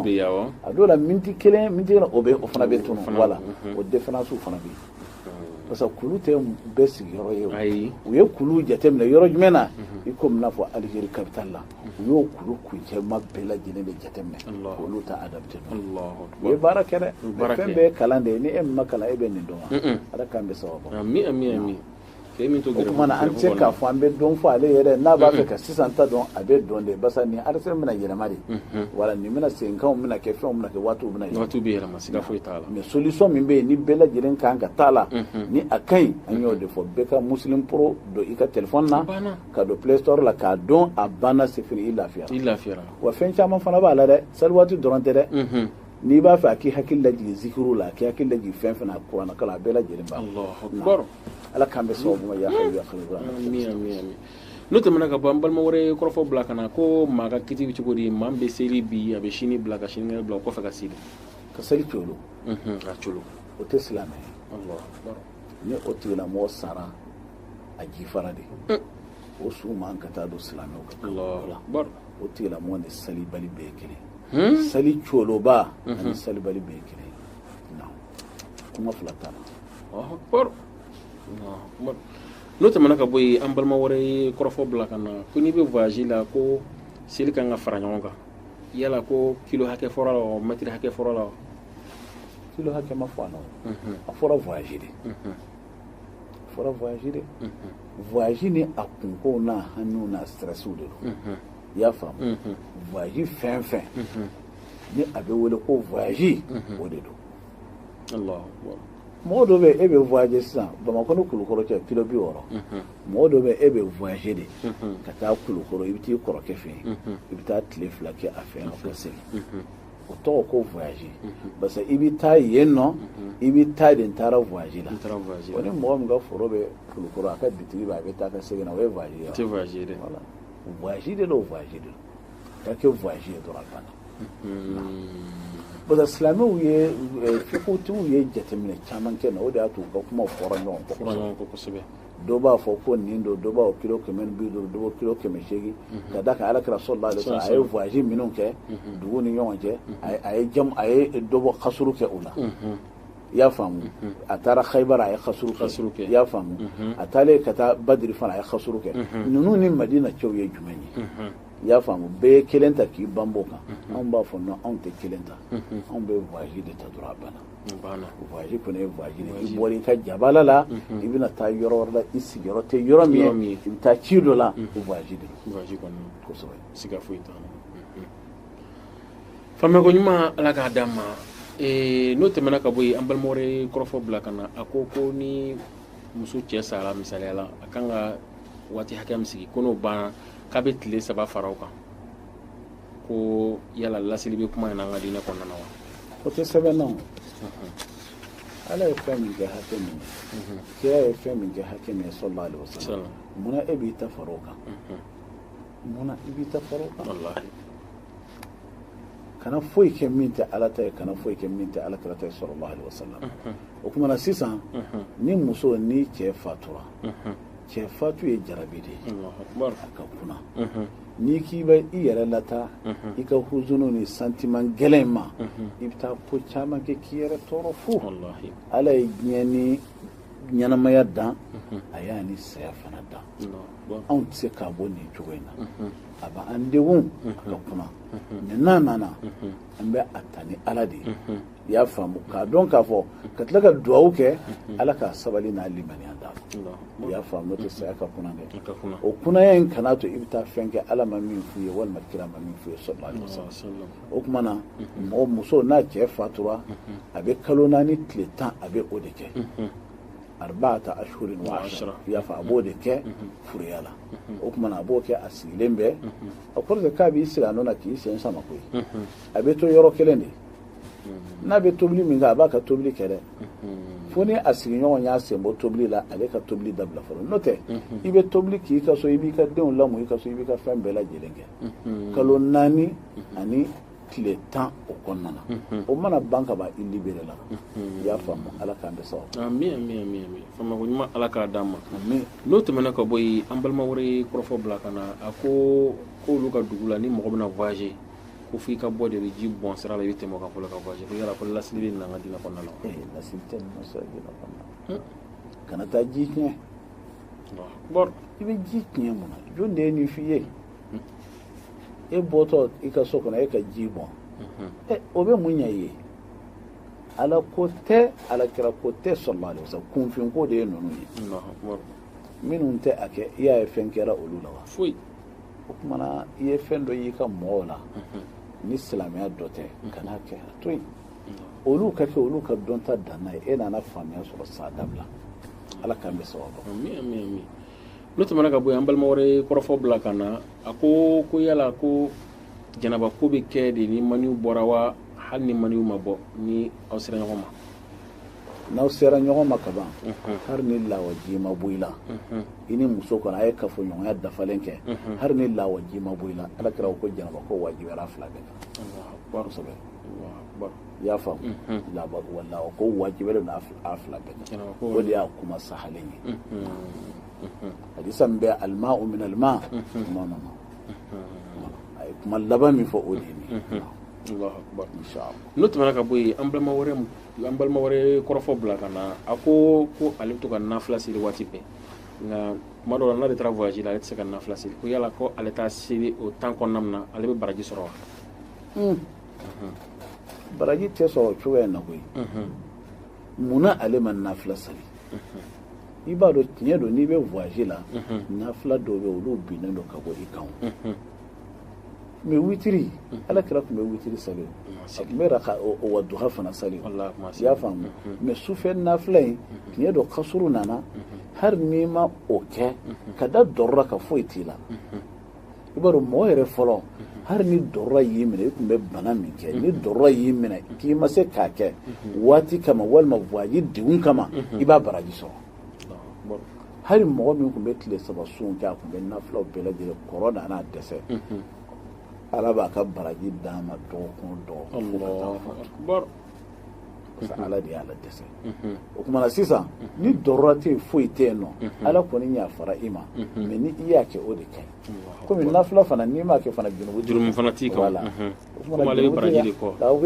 a dɔw la miniti kelen miniti kelen o bɛ o fana bɛ tunu voilà o différence fana bɛ yen parce que kulu tɛ bɛɛ sigiyɔrɔ ye o u ye kulu jateminɛ yɔrɔ jumɛn na i ko n'a fɔ Algérie capitale la u y'o kulu kuncɛma bɛɛ lajɛlen de jateminɛ k'olu ta adapté u ye baara kɛ dɛ fɛn bɛɛ ye kalan de ye ni e min ma kalan e bɛ nin dɔn wa Ala k'an bɛ sababu ma. o tuma na an tɛ se k'a fɔ an bɛ dɔn fɔ ale yɛrɛ n'a b'a fɛ ka sisan ta dɔn a bɛ dɔn de parce que ni ara bɛna yɛlɛma de wala nin bɛna seginkanw bɛna kɛ fɛnw bɛna kɛ waatiw bɛna yɛlɛma siga foyi t'a la mais solution min bɛ yen ni bɛɛ lajɛlen kan ka taa la ni a ka ɲi an y'o de fɔ bɛɛ ka Muslim Pro don i ka téléphone na ka don Play Store la k'a dɔn a banna c'est fini i lafiyara wa fɛn caman fana b'a la dɛ sali waati dɔrɔn tɛ dɛ n'i b'a fɛ a k'i hakili lajigin zikiru la a k'i hakili lajigin fɛn fɛn na kuranɛ kalan a bɛɛ lajɛlen b'a kɔrɔ ala k'an bɛ sababu ma ya hayyu n'o tɛmɛna ka bɔ an balima wɛrɛ kɔrɔfɔ bila ka na ko maa ka kiti bɛ cogo di maa min bɛ seli bi a bɛ sini bila ka sinikɛnɛ bila o kɔfɛ ka seli ka seli colo ka colo o tɛ silamɛ ye ni o tigilamɔgɔ sara a jifara de o su man ka taa don silamɛw kan o tigilamɔgɔ ni salibali bɛɛ ye kelen hmm? sali coloba hmm. ani salibali bɛɛ ye kelen kuma fila t'a la n'o tɛmɛna ka bɔ yen an balima wɛrɛ ye kɔrɔfɔ bila ka na ko n'i bɛ voyage la ko seli kan ka fara ɲɔgɔn kan yala ko kilo hakɛ fɔra la wa mɛtiri hakɛ fɔra la wa kilo hakɛ ma fɔ a la a fɔra voyage de fɔra voyage de voyage ni a kunkow n'a hamiw n'a strɛsiw de don i y'a faamu voyage fɛn fɛn ni a bɛ wele ko voyage o de don mɔgɔ dɔ bɛ e bɛ voyage sisan bamakɔ ni kulukɔrɔ cɛ kilo bi wɔɔrɔ mɔgɔ dɔ bɛ e bɛ voyage de ka taa kulukɔrɔ i bɛ t'i kɔrɔkɛ fɛ yen i bɛ taa tile fila kɛ a fɛ yen ka segin o tɔgɔ ko voyage parce que i bɛ taa yen nɔ i bɛ taa de n taara voyage la o ni mɔgɔ min ka foro bɛ kulukɔrɔ a ka bitigi bɛ a bɛ taa ka segin na o ye voyage ye tɛ voyage ye dɛ voilà voyage de don voyage de don ka kɛ voyage ye dɔrɔn a banna parce que silamɛw ye fikutigiw ye jateminɛ caman kɛ na o de y'a to u ka kuma fɔra ɲɔgɔn kɔ kosɛbɛ dɔw b'a fɔ ko nin don dɔw b'a kilo kɛmɛ ni bi duuru dɔw kilo kɛmɛ seegin mhm. ka da kan ala kira sallallahu alaihi wasallam a ye voyage minnu kɛ mhm. dugu ni ɲɔgɔn cɛ mhm. a ye jamu a ye dɔ bɔ kasuru kɛ o la i y'a faamu a taara khayibara a ye kasuru kɛ i y'a faamu a taalen ka taa badiri fana a ye kasuru kɛ ninnu ni madina cɛw ye jumɛn ye i y'a faamu bɛɛ ye kelen ta k'i banba kan anw b'a fɔ non anw tɛ kelen ta anw bɛ voyage de ta dɔrɔn a banna voyage kɔni ye voyage de i bɔra i ka jabala la i bɛna taa yɔrɔ wɛrɛ la i sigiyɔrɔ tɛ yɔrɔ min ye i bɛ taa ci dɔ la o voyage de don kosɛbɛ siga foyi t'a la faamuyako ɲuman ala k'a d'an ma n'o tɛmɛna ka bɔ yen an balima wɛrɛ ye kɔrɔfɔ bila ka na a ko ko ni muso cɛ sara misaliya la a kan ka waati hakɛ min sigi ko n'o banna k'a bɛ tile saba fara o kan ko yala lasili bɛ kuma in na an ka diinɛ kɔnɔna na wa o tɛ sɛbɛn na o ala ye fɛn min kɛ hakɛ min ye kira ye fɛn min kɛ hakɛ min ye sallallahu alaihi wasallam munna e b'i ta fara o kan munna i b'i ta fara o kan kana foyi kɛ min tɛ ala ta ye kana foyi kɛ min tɛ ala kira ta ye sallallahu alaihi wasallam o kuma na sisan ni muso ni cɛ fatura cɛ fatu ye jarabi de ye a ka kuna n'i k'i bɛ i yɛrɛ lata i ka huzunu ni sentiment gɛlɛn in ma i bɛ taa ko caman kɛ k'i yɛrɛ tɔɔrɔ fu ala ye diɲɛ ni ɲɛnamaya dan a y'a ni saya fana dan anw tɛ se k'a bɔ nin cogo in na a bɛ an degun a ka kuna mais n'a nana an bɛ a ta ni ala de ye i y'a faamu k'a dɔn k'a fɔ ka tila ka dugawu kɛ ala ka sabali n'a limaniya d'a ma i y'a faamu n'o tɛ saya ka kuna dɛ o kunaya in kana to i bɛ taa fɛn kɛ ala ma min f'u ye walima kira ma min f'u ye sallallahu alaihi wasallam o kuma na mɔgɔ muso n'a cɛ fatura a bɛ kalo naani tile tan a bɛ o de kɛ arba'ata ashhurin wa ashra i y'a faamu a b'o de kɛ furiya la o kuma na a b'o kɛ a sigilen bɛ a kɔrɔ tɛ k'a b'i sigi a nɔ na k'i sen sama koyi a bɛ to yɔrɔ kelen de n'a bɛ tobili min kɛ a b'a ka tobili kɛ dɛ fo ni a sigiɲɔgɔn y'a sen bɔ tobili la ale ka tobili dabila fɔlɔ n'o tɛ i bɛ tobili k'i ka so i b'i ka denw lamɔ i ka so i b'i ka fɛn bɛɛ lajɛlen kɛ kalo naani ani tile tan o kɔnɔna na o mana ban ka ban i libéré la i y'a faamu ala k'an bɛ sababu ami ami ami ami faamako ɲuman ala k'a d'an ma n'o tɛmɛna ka bɔ yen an balima wɛrɛ ye kɔrɔfɔ bila ka na a ko k'olu ka dugu la ni mɔgɔ bɛna voyager ko fo i ka bɔ de bɛ ji bɔn sira la i bɛ tɛmɛ o kan fɔlɔ ka bɔ ko yala ko lasili bɛ na an ka diinɛ kɔnɔna la ee lasili tɛ nin ma sa diinɛ kɔnɔna la kana taa ji tiɲɛ i bɛ ji tiɲɛ mun na jɔn de ye nin f'i ye e bɔtɔ i ka so kɔnɔ e ka ji bɔn ɛ o bɛ mun ɲɛ i ye ala ko tɛ ala kira ko tɛ sallallahu alaihi wasallam kunfin ko de ye ninnu ye minnu tɛ a kɛ i y'a ye fɛn kɛra olu la wa foyi o tuma na i ye fɛn dɔ y'i ka mɔgɔw la ni silamɛya dɔ tɛ kan'a kɛ a to yen olu k'a kɛ olu ka dɔnta danna ye e nana faamuya sɔrɔ sa dabila ala k'an bɛɛ sababu n'o tɛmɛna ka bɔ yen an balima wɛrɛ ye kɔrɔfɔ bila ka na a ko ko yala ko janaba ko bɛ kɛ de ni maniyu bɔra wa hali ni maniyu ma bɔ ni aw sera ɲɔgɔn ma n'aw sera ɲɔgɔn ma ka ban hali ni lawaji ma bɔ i la i ni muso kɔni a ye kafoɲɔgɔnya dafalen kɛ hali ni lawaji ma bɔ i la ala kira ko janaba ko wajibiyara a fila bɛɛ kan kosɛbɛ i y'a faamu lawa lawa ko wajibiyalen don a fila bɛɛ kan o de y'a kuma sahalen ye hadisa min bɛ alma'u min alma kuma nana a ye kuma laban min fɔ o de ye nin ye n'o tɛmɛna ka bɔ yen an balima wɛrɛ an balima wɛrɛ kɔrɔfɔ bila ka na a ko ko ale bɛ to ka nafila seli waati bɛɛ nka kuma dɔw la n'ale taara voyage la ale tɛ se ka nafila seli ko yala ko ale t'a seli o temps kɔnɔna min na ale bɛ baraji sɔrɔ wa hmm. baraji tɛ sɔrɔ cogoya in na koyi mun na ale ma nafila seli i b'a dɔn tiɲɛ don n'i bɛ voyage la nafila dɔw bɛ yen olu binnen don ka bɔ i kan mais witiri ala kira tun bɛ witiri sali a tun bɛ ka wa duha fana sali i y'a faamu mais sufɛ nafila in tiɲɛ don kasuru nana hali n'i ma o kɛ ka da dɔrɔra kan foyi t'i la i b'a dɔn mɔgɔ yɛrɛ fɔlɔ hali ni dɔrɔra y'i minɛ i tun bɛ baara min kɛ ni dɔrɔra y'i minɛ k'i ma se k'a kɛ waati kama walima voyage degun kama i b'a baraji sɔrɔ hali mɔgɔ min tun bɛ tile saba sun kɛ a tun bɛ nafilaw bɛɛ lajɛlen kɛ n'a nana dɛsɛ ala b'a ka baraji d'a ma dɔgɔkun dɔgɔkun fo ka taa fatu parce que ala de y'a ladɛsɛ o tuma na sisan ni dɔrɔra tɛ yen foyi tɛ yen non ala kɔni yafara i ma mais ni i y'a kɛ o de ka ɲi komi nafila fana n'i m'a kɛ fana jurumu jurumu fana t'i kan wala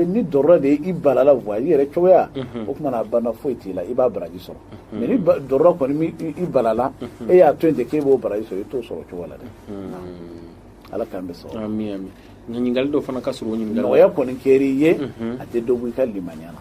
ni dɔrɔra de i balala voyage yɛrɛ cogoya o tuma na a banna foyi t'i la i b'a baraji sɔrɔ mais ni dɔrɔra kɔni m'i balala e y'a to yen ten k'e b'o baraji sɔrɔ i t'o sɔrɔ cogo la dɛ ala k'an bɛɛ sɔrɔ ɲininkali dɔ fana ka sɔrɔ nɔgɔya kɔni kɛr'i ye a tɛ dɔ bɔ i ka limaniya na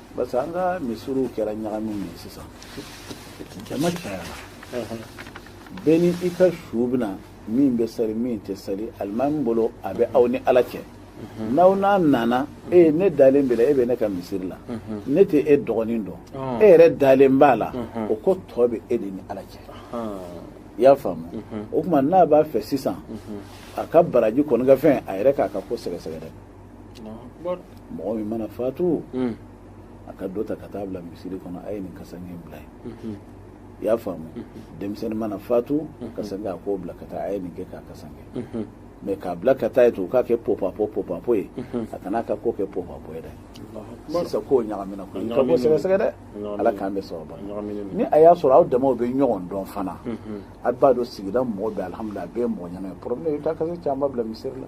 parce que an ka misiriw kɛra ɲagami min ye sisan jama cayara bɛɛ ni i ka su bɛ na min bɛ sali min tɛ sali alimami bolo a bɛ aw ni ala cɛ n'aw n'a nana e ne dalen b'e la e bɛ ne ka misiri la ne tɛ e dogonin dɔn e yɛrɛ dalen b'a la o ko tɔ bɛ e de ni ala cɛ i y'a faamu o tuma n'a b'a fɛ sisan a ka baraji kɔni ka fɛn a yɛrɛ k'a ka ko sɛgɛsɛgɛ dɛ mɔgɔ min mana fatu hmm. a ka dɔ ta ka taa bila misiri kɔnɔ a ye nin kasange bila yen hmm. i y'a faamu hmm. denmisɛnnin mana fatu kasange a k'o bila ka taa a ye nin kɛ k'a kasange mais k'a bila ka taa ye to u k'a kɛ popapo popapo ye a kana ka ko kɛ popapo ye dɛ sisan ko ɲagamina ko ka bɔ sɛgɛsɛgɛ dɛ ala k'an bɛ sababu ni a y'a sɔrɔ aw damaw bɛ ɲɔgɔn dɔn fana a b'a dɔn sigida mɔgɔ bɛɛ alihamudulila a bɛɛ ye mɔgɔ ɲɛna ye problème i bɛ taa kasange caman bila misiri la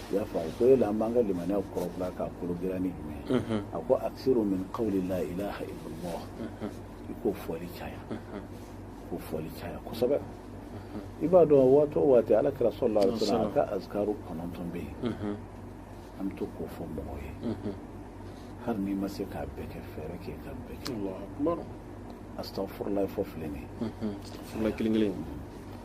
i y'a faamu ko yala an b'an ka limaniya kurakuraya k'a kologirinya ni jumɛn ye a ko aksiru min qawli la ilaha illallah i k'o fɔli caya k'o fɔli caya kosɛbɛ i b'a dɔn waati o waati ala kira sallallahu alaihi wasallam a ka azkaru kɔnɔntɔn bɛ yen an bɛ to k'o fɔ mɔgɔw ye hali n'i ma se k'a bɛɛ kɛ fɛɛrɛ kɛ k'a bɛɛ kɛ astafurulayi fɔ filɛ nin ye kelen kelen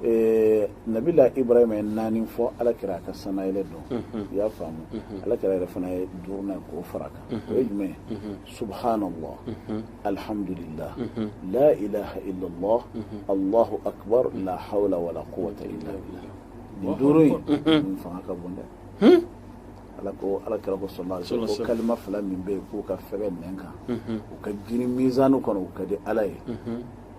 Ɛɛ nabilahi ibrahima ye naani fɔ ala kira ka sannayɛlɛ don i y'a faamu ala kira yɛrɛ fana ye duurunan k'o fara kan o ye jumɛn subhanallah alhamdulillah la ilaha illallah allahu akbar la hawla wala quwwata illa billah nin duuru in fanga ka bon dɛ ala ko ala kira ko sallallahu alaihi wasallam ko kalima fila min bɛ yen k'u ka fɛgɛn nɛn kan u ka jiri mizan kɔnɔ u ka di ala ye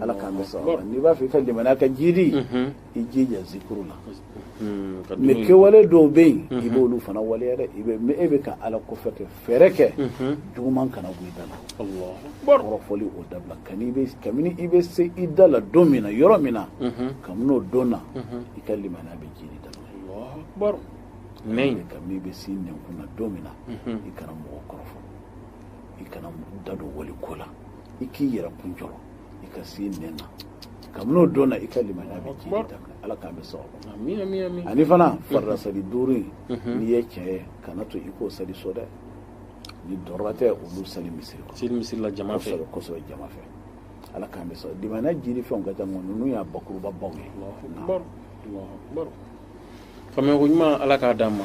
ala k'an bɛ sababu n'i b'a fɛ i ka limaniya ka jiidi i jija zikuru la mais kɛwale dɔw bɛ yen i b'olu fana waleya dɛ e bɛ ka ala kofɔ kɛ fɛɛrɛ kɛ juguman kana bɔ i da la kɔrɔfɔli o dabila kabini i bɛ se i da la don min na yɔrɔ min na kabini o don na i ka limaniya bɛ jiidi da la kabini i bɛ se i nɛnkun na don min na i kana mɔgɔ kɔrɔfɔ i kana da don wali ko la i k'i yɛrɛ kun jɔrɔ i ka se i nɛn na kabini o don na i ka limaniya bɛ jiidi da ala k'an bɛ sababu ani fana mhm. farida sali duuru in mhm. n'i ye cɛ ye kana to i k'o sali so dɛ ni darura tɛ olu sali misiri kɔnɔ seli misiri la jama fɛ kosɛbɛ jama fɛ ala k'an bɛ sababu limaniya jiidi fɛnw ka ca nka ninnu y'a bakuruba baw ye faamuyako ɲuman ala k'a d'an ma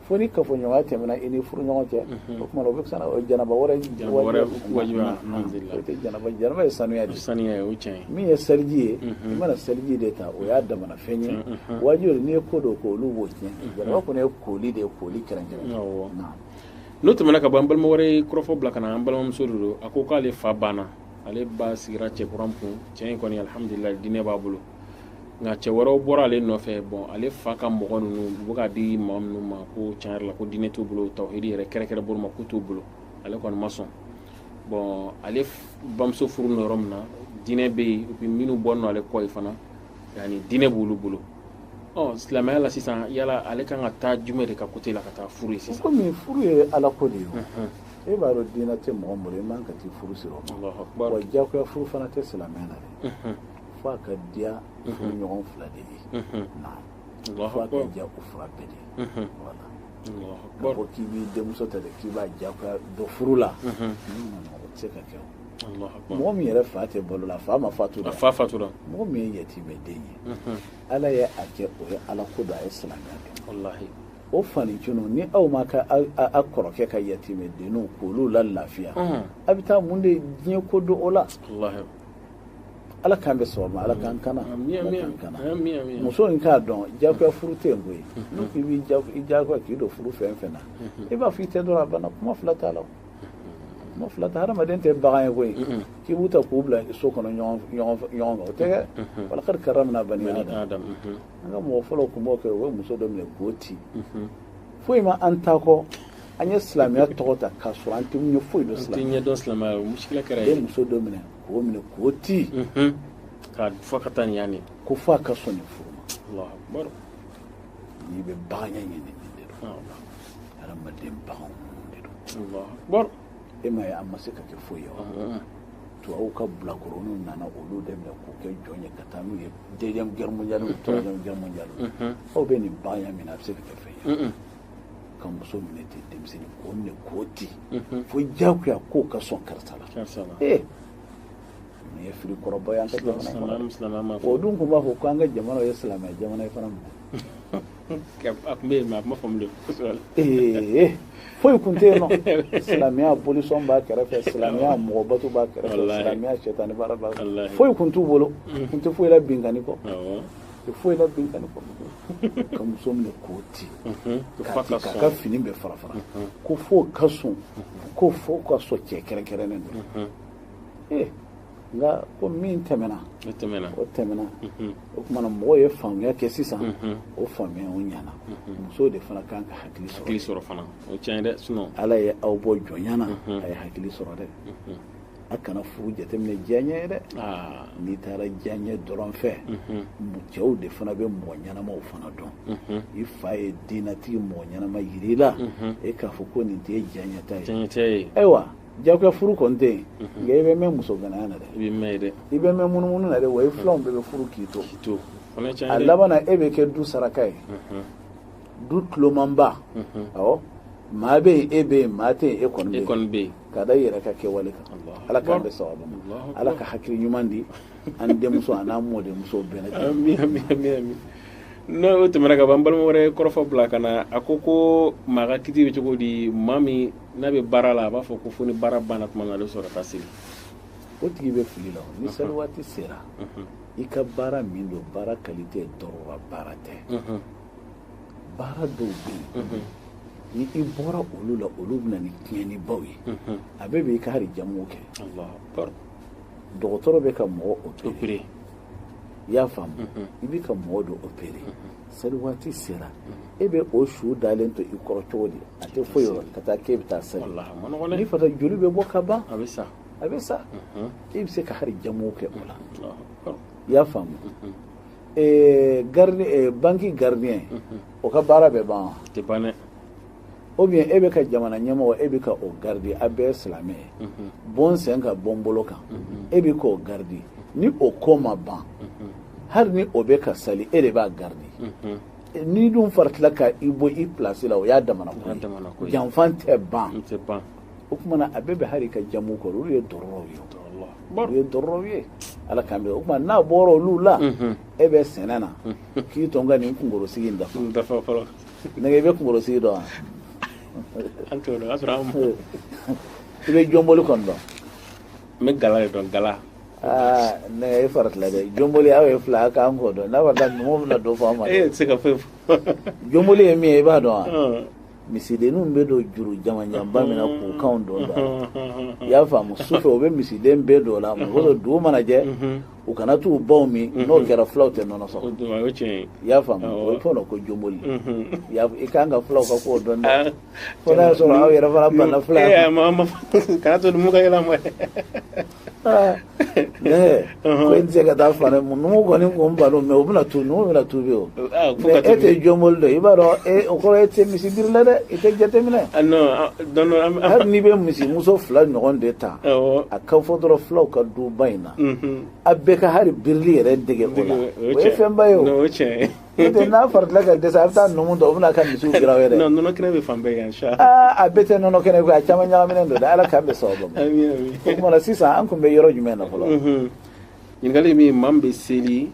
fo ni kafoɲɔgɔnya tɛmɛna i ni furuɲɔgɔn cɛ o tuma o bɛ fisa o janaba wɛrɛ wajibiya o tɛ janaba janaba ye sanuya de sanuya ye o cɛn ye min ye seliji ye i mana seliji de ta o y'a damana fɛn ye wajibi n'i ye ko dɔw kɛ olu b'o tiɲɛ janaba kɔni ye koli de ye koli kɛrɛnkɛrɛn awɔ n'o tɛmɛna ka bɔ an balima wɛrɛ ye kɔrɔfɔ bila ka na an balimamuso de don a ko k'ale fa banna ale ba sigira cɛ kura kun cɛ in kɔni alihamudulila diinɛ b'a bolo nka cɛ wɛrɛw bɔra ale nɔfɛ bɔn ale fa ka mɔgɔ ninnu bɛ k'a di mɔgɔ minnu ma ko tiɲɛ yɛrɛ la ko diinɛ t'u bolo tawhidi yɛrɛ kɛrɛnkɛrɛn bolo ma ko t'u bolo ale kɔni ma sɔn bɔn ale bamuso furu nɔ yɔrɔ min na diinɛ bɛ yen u bɛ minnu bɔ nɔ ale kɔ ye fana yani diinɛ b'olu bolo ɔ silamɛya la sisan yala ale kan ka taa jumɛn de ka côté la ka taa furu ye sisan kɔmi furu ye ala ko de ye e b'a dɔn diinɛ tɛ mɔgɔ bolo e man ka taa furu siri o ma wa diyagoya furu fana tɛ silamɛya na dɛ fo a ka diya furuɲɔgɔn fila de ye naam fo a ka diya u fila bɛɛ de ye wala k'a fɔ k'i b'i denmuso ta de k'i b'a diyagoya don furu la o tɛ se ka kɛ o mɔgɔ min yɛrɛ fa tɛ balo la fa ma fatu la fa fatura mɔgɔ min ye yatimɛ den ye ala ye a kɛ o ye ala ko don a ye silamɛya kɛ walahi o fanicunu ni aw ma ka a kɔrɔkɛ ka yatimɛ denninw k'olu la lafiya a bɛ taa mun de diɲɛ ko don o la ala k'an bɛ sɔgɔma ala k'an kana muso in k'a dɔn jagoya furu tɛ yen koyi n'u k'i b'i jagoya k'i don furu fɛn fɛn na i b'a fɔ i tɛ dɔrɔn a banna kuma fila t'a la kuma fila tɛ hadamaden tɛ bagan ye koyi k'i b'u ta k'u bila so kɔnɔ ɲɔgɔn kan o tɛ kɛ walakadi karamna bani adam an ka mɔgɔ fɔlɔw kun b'o kɛ o ye muso dɔ minɛ k'o ti foyi ma an ta kɔ an ye silamɛya tɔgɔ ta k'a sɔrɔ an tɛ ɲɛ foyi dɔn silamɛya ɲɛ dɔn silamɛya o muskila kɛra a ye muso dɔ minɛ k'o minɛ k'o ti ka fɔ ka taa nin yanni ko fo a ka sɔn nin furu ma n'i bɛ bagan ɲɛ ɲini nin de don hadamaden baganw de don e m'a ye an ma se ka kɛ foyi ye wa uh-huh. tubabu ka bilakoroniw nana olu de minɛ k'u kɛ jɔn ye ka taa n'u ye deuxième guerre mondiale ou uh-huh. troisième guerre mondiale uh-huh. aw bɛ nin baganya min na a bɛ se ka kɛ fɛn ye ka muso minɛ ten denmisɛnnin k'o minɛ k'o ti fo diyagoya ko ka sɔn karisa la ee nin ye fili kɔrɔba ye an ka jamana kɔnɔ o dun tun b'a fɔ ko an ka jamana ye silamɛ jamana ye fana mɔgɔ a tun bɛ yen mais a tun ma faamu de kosɛbɛ la. ee foyi kun tɛ yen nɔ silamɛya bolisɔn b'a kɛrɛfɛ silamɛya mɔgɔ bato b'a kɛrɛfɛ Walahi. silamɛya sɛtani baara b'a kɛrɛfɛ Walahi. foyi kun t'u bolo u kun tɛ foyi la binkanni kɔ Awɔ. u tɛ foyi la binkanni kɔ ka muso minɛ k'o ti Mhm. Ko k'a fa ti ka k'a sɔn. ka fini bɛɛ fara fara ko fo ka sɔn ko fo ka sɔn cɛ kɛrɛnkɛrɛnnen don ee nka ko min tɛmɛna o tɛmɛna o tɛmɛna o tuma na mɔgɔw ye faamuya kɛ sisan o faamuya o ɲana musow de fana kan ka hakili sɔrɔ hakili sɔrɔ fana o tiɲɛ dɛ sinɔn ala ye aw bɔ jɔnya na a ye hakili sɔrɔ dɛ a kana furu jateminɛ diyaɲɛ ye dɛ n'i taara diyaɲɛ dɔrɔn fɛ cɛw de fana bɛ mɔgɔ ɲɛnamaw fana dɔn i fa ye diinɛtigi mɔgɔ ɲɛnama yira i la e k'a fɔ ko nin t'e diyaɲɛta ye ayiwa Jagoya furu kɔni tɛ yen nka i bɛ mɛn muso gananya na dɛ i bɛ mɛn munumunu na dɛ wa i filanw bɛɛ bɛ furu k'i to a laban e bɛ kɛ du saraka ye du tulomanba ɔ maa bɛ yen e bɛ yen maa tɛ e kɔni bɛ yen ka da yɛrɛ ka kɛwale kan ala k'an bɛɛ saba ala ka hakili ɲuman di an denmuso a n'an mɔdenmuso bɛɛ ma n'o tɛmɛna ka ban balima wɛrɛ kɔrɔfɔ bila ka na a ko ko maa ka kiti bɛ cogo di maa min n'a bɛ baara la a b'a fɔ ko fo ni baara banna tuma min na ale bɛ sɔrɔ ka taa seli o tigi bɛ fili la ni seli waati sera i ka baara min don baara kalite darura baara tɛ baara dɔw bɛ yen ni i bɔra olu la olu bɛ na ni tiɲɛnibaw ye a bɛ bɛn i ka hali jamu kɛ dɔgɔtɔrɔ bɛ ka mɔgɔ opere i y'a faamu i bɛ ka mɔgɔ dɔ opere seli waati sera e bɛ o su dalen to i kɔrɔ cogo di a tɛ foyi yɔrɔ ka taa k'e bɛ taa seli ni fata joli bɛ bɔ ka ban a bɛ sa a bɛ sa mhm. e bɛ se ka hali jamu kɛ o la i y'a faamu mhm. eh, eh, banki gardien mhm. o ka baara bɛ ban wa tɛ ban dɛ ou bien e bɛ ka jamana ɲɛmɔgɔ e bɛ ka o garidi a bɛɛ silamɛ ye bɔ n sen kan bɔ n bolo kan e bɛ k'o garidi ni o ko ma ban hali ni o bɛ ka sali e de b'a garidi n'i dun faratila ka i bɔ i pilasi la o y'a damana ko ye janfa tɛ ban o tuma na a bɛ bɛn hali i ka jamu kɛ olu ye daruraw ye olu ye daruraw ye ala k'an bɛɛ o tuma n'a bɔra olu la e bɛ sɛnɛ na k'i to n ka nin kunkɔrɔsigi in dafa nɛgɛ i bɛ kunkɔrɔsigi dɔn wa an t'o dɔn o y'a sɔrɔ an b'o i bɛ jɔnboli kɔni dɔn n bɛ gala de dɔn gala aa nɛgɛ i faratila dɛ jɔnboli aw ye fila aw ka kan k'o dɔn n'a fɔra taa numu bɛna dɔ fɔ an ma e de tɛ se ka foyi fɔ jɔnboli ye min ye i b'a dɔn wa Ɔn. misidenninw bɛ don juru jamanjanba min na k'u kanw don da la i y'a faamu sufɛ u bɛ misiden bɛɛ don o la mɔgɔ dɔ dugu mana jɛ u kana t'u baw min mhm. n'o kɛra fulaw tɛ nɔnɔ sɔrɔ i y'a faamu o ye fɔlɔ ko jɔnboli mhm. i kan ka fulaw ka kan k'o dɔn dɛ ah. fo n'a y'a sɔrɔ aw yɛrɛ fana banna fula eh, kana to numu ka yɛlɛ ma ah. eh, ko i tɛ se ka taa fana mu numu kɔni ko n balo mɛ o bɛna tu numu bɛna tu bi o ah, mɛ e tɛ jɔnboli dɔn i b'a dɔn e, o kɔrɔ e tɛ misi biri la dɛ i tɛ jateminɛ hali n'i bɛ misi muso fila ɲɔgɔn de ta a ka fɔ dɔrɔn fulaw ka duba in na a bɛɛ ka hali birili yɛrɛ dege o la o ye fɛnba ye n'a fara ka a bɛ taa numu dɔn o bɛna ka misi kira yɛrɛ bɛ fan yan a bɛɛ tɛ nɔnɔ kɛnɛ a caman ɲagaminen don ala k'an bɛ sababu ma o tuma sisan an tun bɛ yɔrɔ jumɛn na fɔlɔ ɲininkali maa min bɛ seli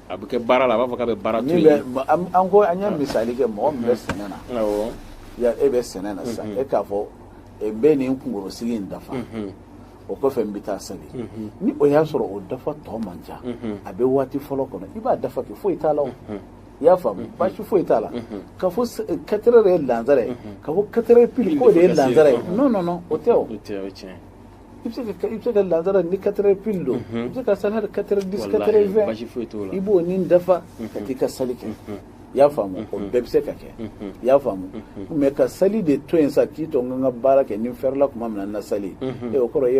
a bɛ kɛ baara la a b'a fɔ k'a bɛ baara an ko an ye misali kɛ mɔgɔ min bɛ sɛnɛ na e bɛ sɛnɛ na sisan e k'a fɔ n bɛ nin kunkorosigi in dafa o kɔfɛ n bɛ taa sali mhm. ni o y'a sɔrɔ o dafa tɔ man ca mhm. a bɛ waati fɔlɔ kɔnɔ i b'a dafa kɛ foyi t'a la o mhm. i y'a faamu baasi foyi t'a la ka fɔ quatre heures de ye lansara ye ka fɔ quatre heures pile k'o de ye lansara ye non non non o tɛ o i bɛ se ka i bɛ se ka lansara ni quatre heures pile don i bɛ se ka sali hali quatre heures dix quatre heures vingt i b'o nin dafa ka t'i ka sali kɛ i y'a faamu o bɛɛ bɛ se ka kɛ i y'a faamu mɛ ka sali de to yen sa k'i to n ka baara kɛ ni n fɛrɛla tuma min na n na sali o kɔrɔ i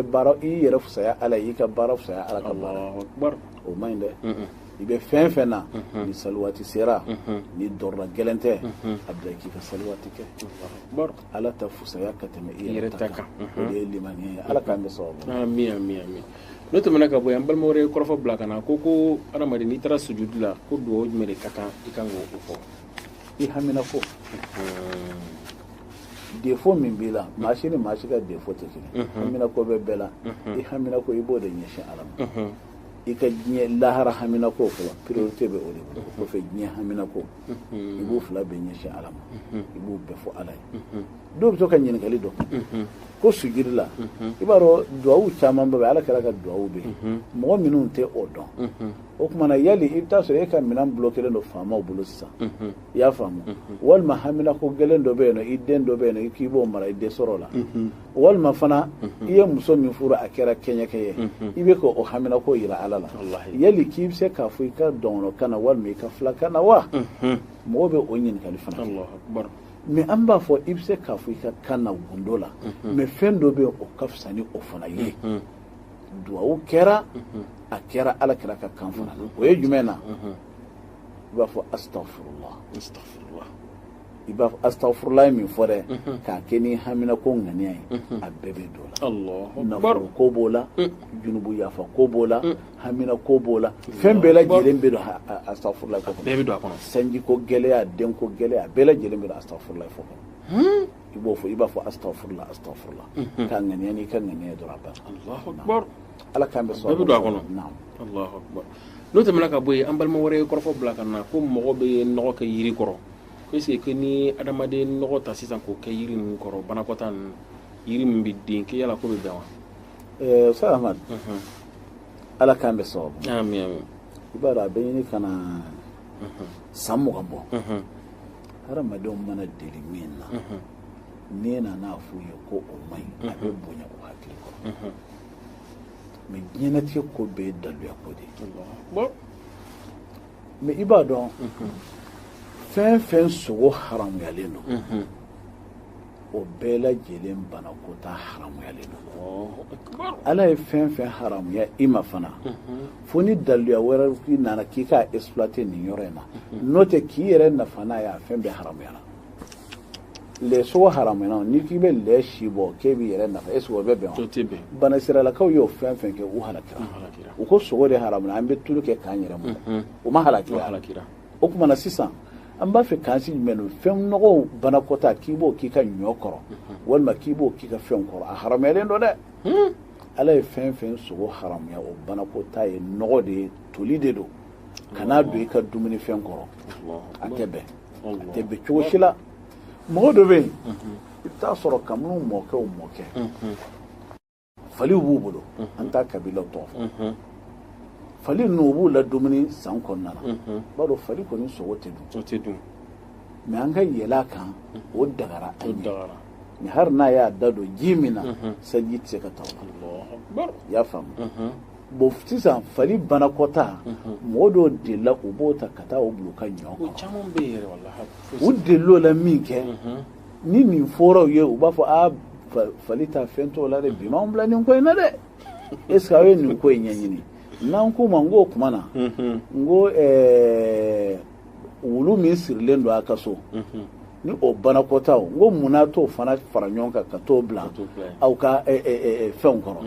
ye i yɛrɛ fusaya ala ye i ka baara fusaya ala ka baara o man ɲi dɛ i bɛ fɛn fɛn na ni sali waati sera ni darura gɛlɛn tɛ a bila k'i ka sali waati kɛ ala ta fusaya ka tɛmɛ i yɛrɛ ta kan o de ye limaniya ye ala k'an bɛ sababu n'o tɛmɛna ka bɔ yan an balima wɛrɛ ye kɔrɔfɔ bila ka na ko ko adamaden n'i taara sujudi la ko dugawu jumɛn de ka kan i kan k'o fɔ i hamina ko défaut min b'i la maa si ni maa si ka défaut tɛ kelen hamina ko bɛ bɛɛ la i hamina ko i b'o de ɲɛsin ala ma i ka diɲɛ lahara hamina ko fɔlɔ priorité bɛ o de bolo o kɔfɛ diɲɛ hamina ko i b'o fila bɛɛ ɲɛsin ala ma i b'o bɛɛ fɔ ala ye dɔw bɛ to ka ɲininkali don ko sujudi la i b'a dɔn duwawu caman bɛ ala kira ka duwawu bɛ mɔgɔ minnu tɛ o dɔn o tuma na yali i bɛ taa sɔrɔ e ka minɛn bulokelen don faamaw bolo sisan i y'a faamu walima hamina ko gɛlɛn dɔ bɛ yen nɔ i den dɔ bɛ yen nɔ i k'i b'o mara i dɛsɛr'o la walima fana i ye muso min furu a kɛra kɛɲɛkɛ ye i bɛ k'o hamina ko yira ala la yali k'i bɛ se k'a fɔ i ka dɔgɔnɔkan na walima i ka filakan na wa mɔgɔw bɛ o ɲininkali fana mɛ an b'a fɔ i bɛ se k'a fɔ i ka kan na gundo la mɛ fɛn dɔ bɛ yen o ka fisa ni o fana ye duwawu kɛra a kɛra ala kira ka kan fana na o ye jumɛn na i b'a fɔ astagfirullah i b'a fɔ astagfirullah min fɔ dɛ k'a kɛ ni haminako ŋaniya ye a bɛɛ bɛ don o la nafolo ko b'o la junubu yafa ko b'o la hamina ko b'o la fɛn bɛɛ lajɛlen bɛ don astagfirullah ko bɛɛ bɛ don a kɔnɔ sanji ko gɛlɛya den ko gɛlɛya bɛɛ lajɛlen bɛ don astagfirullah fɔ kɔnɔ hmm? i b'o fɔ i b'a fɔ astagfirullah astagfirullah mhm. k'a ŋaniya n'i k'a ŋaniya dɔrɔn a bɛɛ ala k'an bɛɛ sɔn bɛɛ bɛ don a kɔnɔ n'o tɛmɛna ka bɔ yen an balima wɛrɛ ye kɔrɔfɔ bila ka na ko mɔgɔ bɛ nɔgɔ kɛ yiri kɔrɔ ko est ce que ni adamaden nɔgɔ ta sisan k'o kɛ yiri ninnu kɔrɔ banakɔta ninnu yiri min bɛ den kɛ yala k'o bɛ bɛn wa sahamadu ala k'an bɛɛ sababu i b'a dɔn a bɛ ɲini ka na san mugan bɔ hadamadenw mana deli min na n'i nan'a f'u ye ko o man ɲi a bɛ bonya o hakili kɔrɔ mɛ diɲɛnatigɛ ko bɛɛ ye daluya ko de ye mɛ i b'a dɔn fɛn fɛn sogo haramuyalen don o bɛɛ lajɛlen banakɔta haramuyalen don ala ye fɛn fɛn haramuya i ma fana fo ni daluya wɛrɛ i nana k'i ka exploiter nin yɔrɔ in na n'o tɛ k'i yɛrɛ nafa n'a ye a fɛn bɛɛ haramuyana lɛ sogo haramuyana n'i k'i bɛ lɛ si bɔ k'e b'i yɛrɛ nafa est-ce que o bɛ bɛn wa banisirayilakaw y'o fɛn fɛn kɛ u halakira u ko sogo de haramuyana an bɛ tulu kɛ k'an yɛrɛ mu u ma halakira o kuma na sisan an b'a fɛ k'an sigi jumɛn don fɛn nɔgɔw banakɔta k'i b'o k'i ka ɲɔ kɔrɔ walima k'i b'o k'i ka fɛnw kɔrɔ a haramuyalen don dɛ hmm. ala ye fɛn fɛn sogo haramuya o banakɔta ye nɔgɔ de ye toli de don kan'a don i ka dumuni fɛn kɔrɔ a tɛ bɛn a tɛ bɛn cogo si la mɔgɔ dɔ bɛ yen i bɛ t'a sɔrɔ kabini mɔkɛw mɔkɛ faliw b'u bolo an t'a kabila tɔgɔ fɔ fali ninnu u b'u ladumuni san kɔnɔna na b'a dɔn fali kɔni sogo tɛ dun mɛ an ka yɛlɛn a kan o dagara an ye mɛ hali n'a y'a da don ji min na saliji tɛ se ka ta o la i y'a faamu bon sisan fali banakɔta mɔgɔ dɔw delila u b'o ta ka taa o bil'u ka ɲɔ kɔrɔ u delila o la minkɛ ni nin fɔr'u ye u b'a fɔ a fali ta fɛn t'o la dɛ bi m'anw bila nin ko in na dɛ est ce que aw ye nin ko in ɲɛɲini n'an k'u ma n k'o kuma na n ko wulu min sirilen don a ka so ni o banakɔtaw n ko munna a t'o fana fara ɲɔgɔn kan ka t'o bila aw ka fɛnw kɔrɔ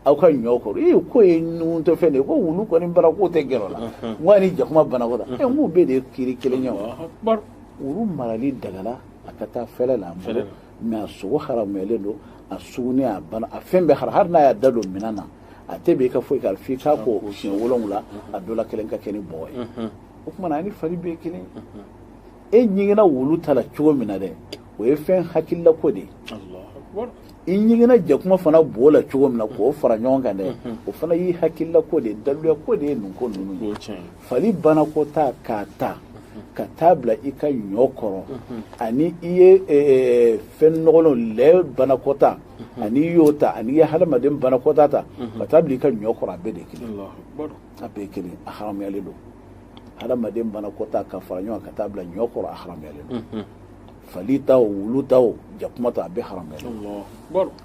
aw ka ɲɔ kɔrɔ ee k'o ye ɲuguntɔ fɛn de ye ko wulu kɔni baraka tɛ gɛrɛ o la n ko ani jakuma banakɔta ɛ n k'u bɛɛ de ye kiri kelen ye wa wulu marali dagala a ka taa fɛlɛ la mɛ a sogo haramuyalen don a sugunɛ a bana a fɛn bɛɛ haram hali n'a y'a da don minɛn na a tɛ bɛn i ka foyi k'a f'i k'a ko siɲɛ wolonwula a dɔ la kelen ka kɛ ni bɔgɔ ye o kuma na a ni fali bɛɛ kelen e ɲiginna wulu ta la cogo min na dɛ o ye fɛn hakililako de ye i ɲiginna jakuma fana bo la cogo min na k'o fara ɲɔgɔn kan dɛ o fana y'i hakililako de ye daluyako de ye nin ko ninnu ye fali banakɔta k'a ta ka taa bila i ka ɲɔ kɔrɔ ani i ye e, e, fɛn nɔgɔlenw lɛ banakɔta ani i y'o ta ani i ye hadamaden banakɔta ta ka taa bila i ka ɲɔ kɔrɔ a bɛɛ de kelen a bɛɛ kelen a haramuyalen don hadamaden banakɔta ka fara ɲɔgɔn ka taa bila ɲɔ kɔrɔ a haramuyalen don fali ta o wulu ta o jakuma ta a bɛɛ haramuyalen don